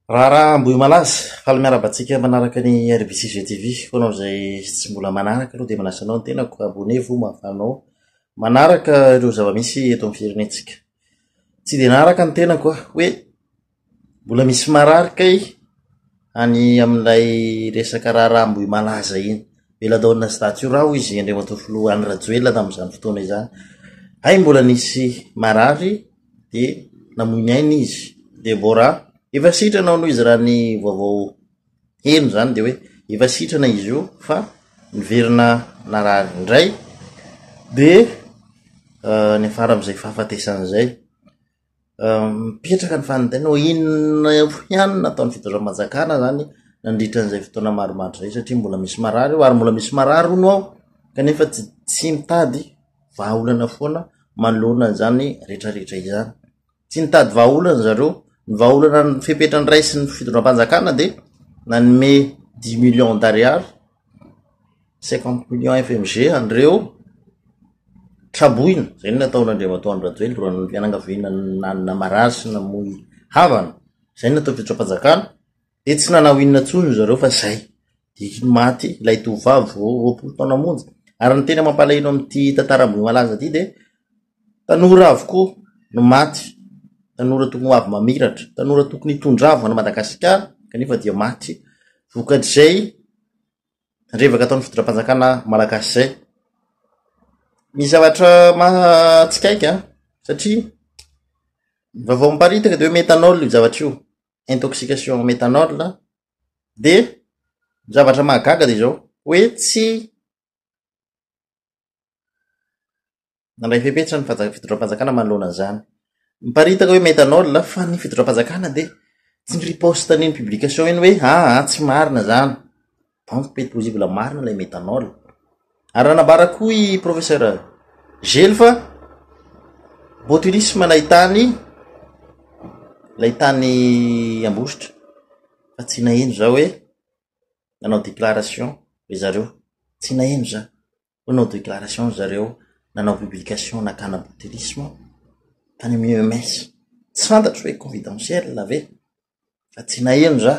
Raharaha Ambohimalaza, faly miarahaba antsika manaraka ny RBC Jeux TV. Ho anao izay tsy mbola manaraka aloha dia manasa anao ny tenako, abonnez-vous mba ahafahanao manaraka ireo zava-misy eto amin'ny firenentsika. Tsy dia naraka ny tenako aho hoe mbola misy marary kay any amin'ilay resaka raharaha Ambohimalaza iny. Belladonna sy Datura hoy izy Andriamatoa Filoha Andry Rajoelina tamin'izany fotoana izany. Hay mbola nisy marary dia namoy ny ainy izy Debora efa sitrana hono izy raha ny vaovao heno zany de hoe efa sitrana izy io fa niverina narary indray de euh, ny afara am'izay fahafatesan'izay euh, mipetraka ny fanintena ho inona ihany nataon'ny fitondram-panjakana zany nandritra an'izay fotoana maromaro zay satria mbola misy marary io ary mbola misy marary hono ao kanefa tsy tsy mitady vahaolana foana manoloana izany rehetra rehetra izany. Tsy nitady vahaolana zareo, ny vahaolana ny fepetra ny ray sy ny fitondram-panjakana dia nanome dix millions d'ariary, cinquante millions FMG an'ireo traboina, izay no nataon'Andriamatoa Andry Rajoelina, ny fianakaviana nanana marary sy namoy havana, izay no natao fitondram-panjakana. Dia tsy nanao inona intsony ry zareo fa izay, dia maty ilay tovovavy vao roapolo taona monja. Ary ny tena mampalahelo amin'ity tantara Ambohimalaza ity dia tanora avokoa no maty, tanora tokony ho avy mamiratra, tanora tokony hitondra avo an'i Madagasikara kanefa dia maty vokatr'izay revaka ataon'ny fitondram-panjakana malagasy izay. Misy zavatra mahatsikaiky an, satria ny vaovao miparitaka dia hoe metanol io zavatra io, intoxication en méthanol dia ny zavatra mahagaga dia izao hoe tsy nandray fepetra ny fitondram-panjakana manoloana an'izany miparitaka hoe méthanol fa ny fitondram-panjakana dia tsy ny riposte an'iny publication iny hoe aa ah, ah, tsy marina izany Donc be possible marina ilay methanol. Ary raha nambara koa i professeur Gelo fa botulisme ilay tany ilay tany Ambositra fa tsy naheno za hoe nanao déclaration ry zareo. Tsy naheno za hoe nanao déclaration ry zareo nanao publication nakana botulisme tany amin'ny EMS. Tsy fantatro hoe confidentiel ve fa tsy naheno za.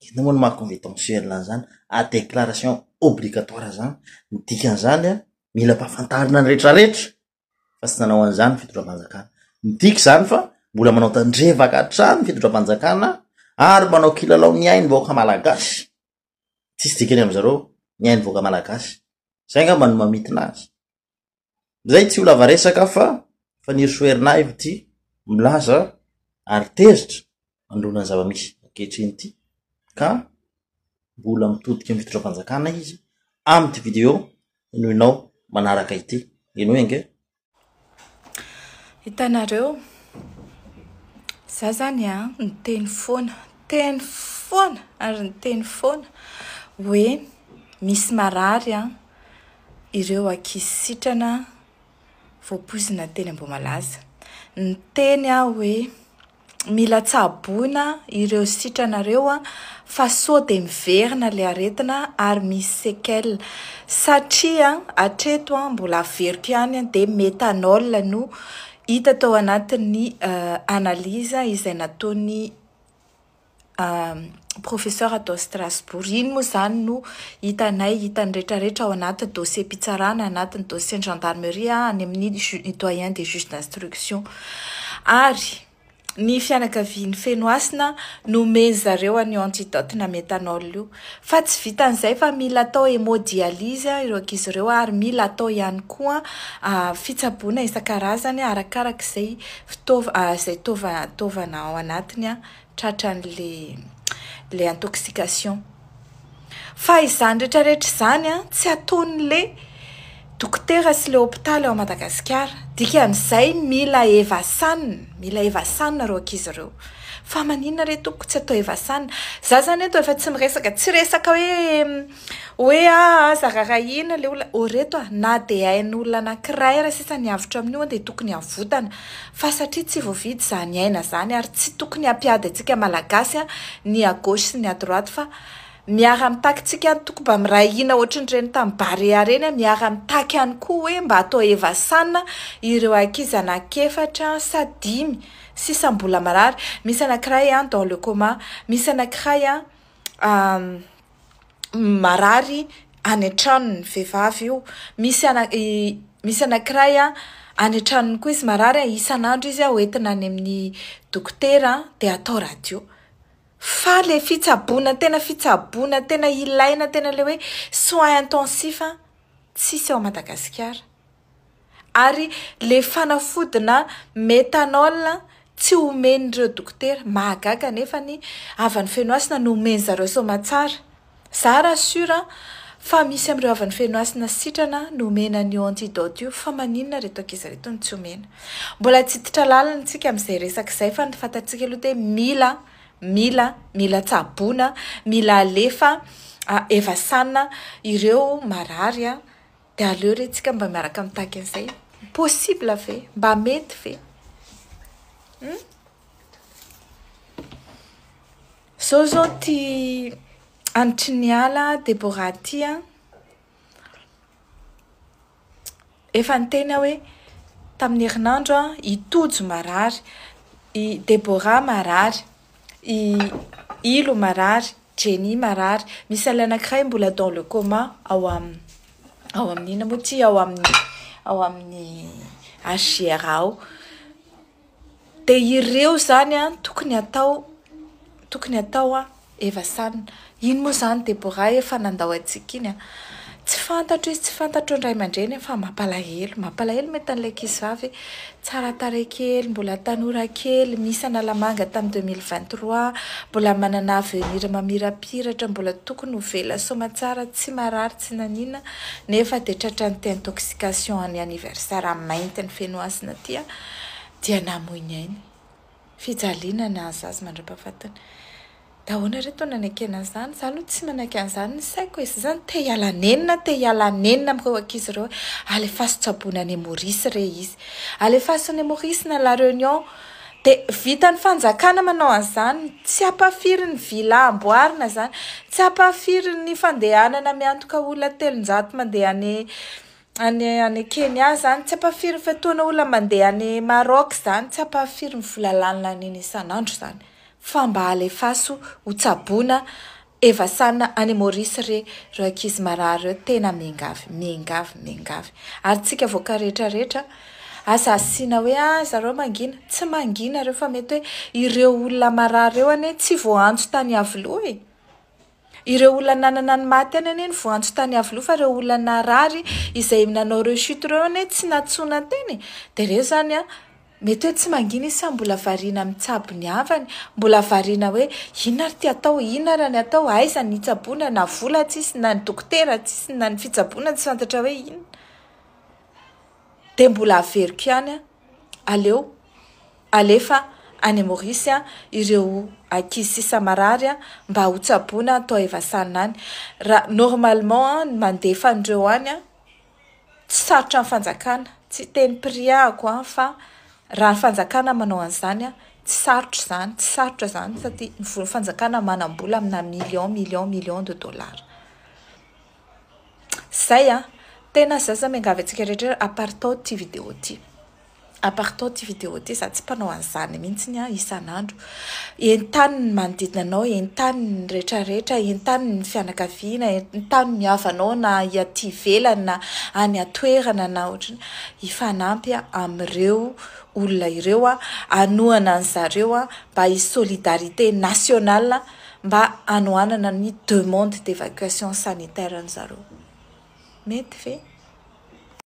Inona moa ny maha convitentuel an'izany? A declaration obligatoire izany. Ny dikan'izany an, mila ampahafantarina ny rehetra rehetra fa tsy nanao an'izany ny fitondram-panjakana. Midika izany fa mbola manao tandrevaka hatrany ny fitondram-panjakana ary manao kilalao ny ainy vahoaka malagasy. Tsisy dikany amin'izareo ny ainy vahoaka malagasy. Izay angamba no mamintina azy. Izay tsy ho lava resaka fa Fanirisoa Herinaivo ity milaza ary tezitra manoloana ny zava-misy ankehitriny ity ka mbola mitodika amin'ny fitondram-panjakana izy amin'ity video henoinao manaraka ity. Henoy ange. Hitanareo, za zany a, niteny foana, teny foana ary niteny foana hoe misy marary a, ireo ankizy sitrana voapoizina teny Ambohimalaza. Niteny aho hoe mila tsaboina ireo sitrana ireo fa sao dia miverina ilay aretina ary misy séquelles satria hatreto mbola averiko ihany dia méthanol no hita tao anatin'ny analyse izay nataon'ny professeur tao Strasbourg. Iny moa izany no hitanay, hitan'ny rehetrarehetra ao anaty dossier-pitsarana, anatin'ny dossier-n'ny gendarmerie, any amin'ny ny doyen des juges d'instruction. Ary ny fianakavian'ny Fenohasina nomen'ny zareo an'io antidote na méthanol io. Fa tsy vitan'izay fa mila atao hémodialyse ireo ankizy ireo ary mila atao ihany koa fitsaboana isan-karazany arakaraky izay fitaova- izay taova- taovana ao anatiny. tratran'le le intoxication fa izany rehetra rehetra izany an tsy ataon'le dokotera sy le hopitaly ao Madagasikara dikan'izay mila evasanina mila evasanina ireo ankizy ireo fa maninona re tompoko tsy atao evasanina za zany eto efa tsy miresaka tsy resaka hoe Hoe ah aza rarahiana le olona oh reto ah na de ain'olona anakiray aza sisa ny avotra amin'io an de tokony avotana fa satria tsy voavidy zany aina zany ary tsy tokony ampiady antsika malagasy an ny à gauche sy ny à droite fa miara mitaky tsika an toko mba miray hina ohatry ny reny tam barea reny an miara mitaky ihany koa hoe mba atao hevasana ireo ankizy anaky efatra sa dimy sisa mbola marary misy anakiray an dans le coma misy anakiray an marary any an-tranony ny vehivavy io, misy ana i misy anankiray a any an-tranony koa izy marary a, isan'andro izy a ho entina any amin'ny dokotera de atao radio, fa le fitsaboana tena fitsaboana tena ilaina tena le hoe soins intensifs tsisy ao Madagasikara. Ary le fanafodina methanol tsy omen'ireo dokotera. Mahagaga nefa ny havan'ny Fenohasina no omen'zareo soamatsara. Za raha sur fa misy amin'ireo havan'ny Fenohasina sitrana no omena an'io antidote io fa maninona reto ankizy reto no tsy omena. Mbola tsy hiditra lalina tsika amin'izay resaka izay fa ny fantatsika aloha dia mila mila mila tsaboina mila alefa evasana ireo marary. Dia aleo re tsika mba miaraka mitaky an'izay possible ve? Mba mety ve? Hum? Zao zao ty anitry ny ala Deborah ty an. Efa niteny aho hoe tamin'ny herinandro an, i Tojo marary, i Deborah marary, I Ilo marary, Jenny marary, misy ilay anankiray mbola dans le coma ao amin'ny ao amin'ny inona moa ity ao amin'ny ao amin'ny HJR ao. Dia ireo izany tokony atao tokony atao efa sanona. Iny moa izany Deborah efa nandao antsika iny a! Tsy fantatro izy tsy fantatr'ireo ny ray aman-dreniny fa mampalahelo, mampalahelo mety an'ilay ankizivavy tsara tarehy kely, mbola tanora kely, misy Analamanga tamin'ny deux mille vingt trois, mbola manana avenir mamirapiratra, mbola tokony ho velona soamantsara, tsy marary tsy nanina nefa dia tratran'ny thé intoxication any anniversaire mainty ny fenohasina aty dia namoy ny ainy. fijaliana nahazo azy mandra-pahafatiny. Dia ahoana re toa nanekena an'izany? Izaho aloha tsy manaiky an'izany ny saiko e! Izaho izany te hiala nenina, te hiala nenina amin'ireo ankizy ireo hoe alefaso tsaboina any Maurice re izy. Alefaso any Maurice na La Réunion. Dia vitan'ny fanjakana manao an'izany, tsy hampahafiry ny villa amboarina izany, tsy hampahafiry ny fandehanana miantoka olona telonjato mandeha any Any any Kenya izany tsy ampahafirin'ny fotoana olona mandeha any Maroc izany tsy ampahafirin'ny vola lanina nina isan'andro izany fa mba alefaso ho tsaboina evasana any Maurice re reo ankizy marary reo tena miangavy miangavy miangavy ary tsika vaoka rehetra rehetra aza asiana hoe ah zareo mangina tsy mangina reo fa mety hoe ireo olona marary reo anie tsy voaantso tany Iavoloha e! Ireo olona nanana ny maha tena anie ny voantso tany Iavoloha fa ireo olona narary izay nanao rechute ireo anie tsy nantsoina tena e! dia ireo izany an! mety hoe tsy mangina izy sa mbola variana amin'ny tsabo ny havany? mbola variana hoe inona ary ity atao? inona ary ny atao? aiza ny hitsaboana? na vola tsisy na ny dokotera tsisy na ny fitsaboana tsy fantatra hoe inona? Dia mbola averiko ihany an! Aleo alefa any Maurice an ireo ankizy sisa marary an mba ho tsaboina an tao Evasana any. Ra normalement an ny mandefa an'ireo any an tsy sarotra ny fanjakana, tsy hiteny prix ahako an fa raha ny fanjakana manao an'izany an tsy sarotra izany, tsy sarotra izany satria ny fanjakana manam-bola amina millions, millions, millions de dollars. Zay an! Tena za za miangavy antsika rehetra hoe aparitao ity video ity, aparitao ity video ity, za tsy mpanao an'izany mihitsy an! Isan'andro entano ny manodidina anao, entano ny rehetra rehetra, entano ny fianakaviana, entano ny havanao na aty ivelany na any an-toerana na ohatrany, hifanampy amin'ireo olona ireo, hanohana an'izareo mba hi-solidarité nationale mba hanohanana ny demande d'evacuation sanitaire-ny zareo. Mety ve?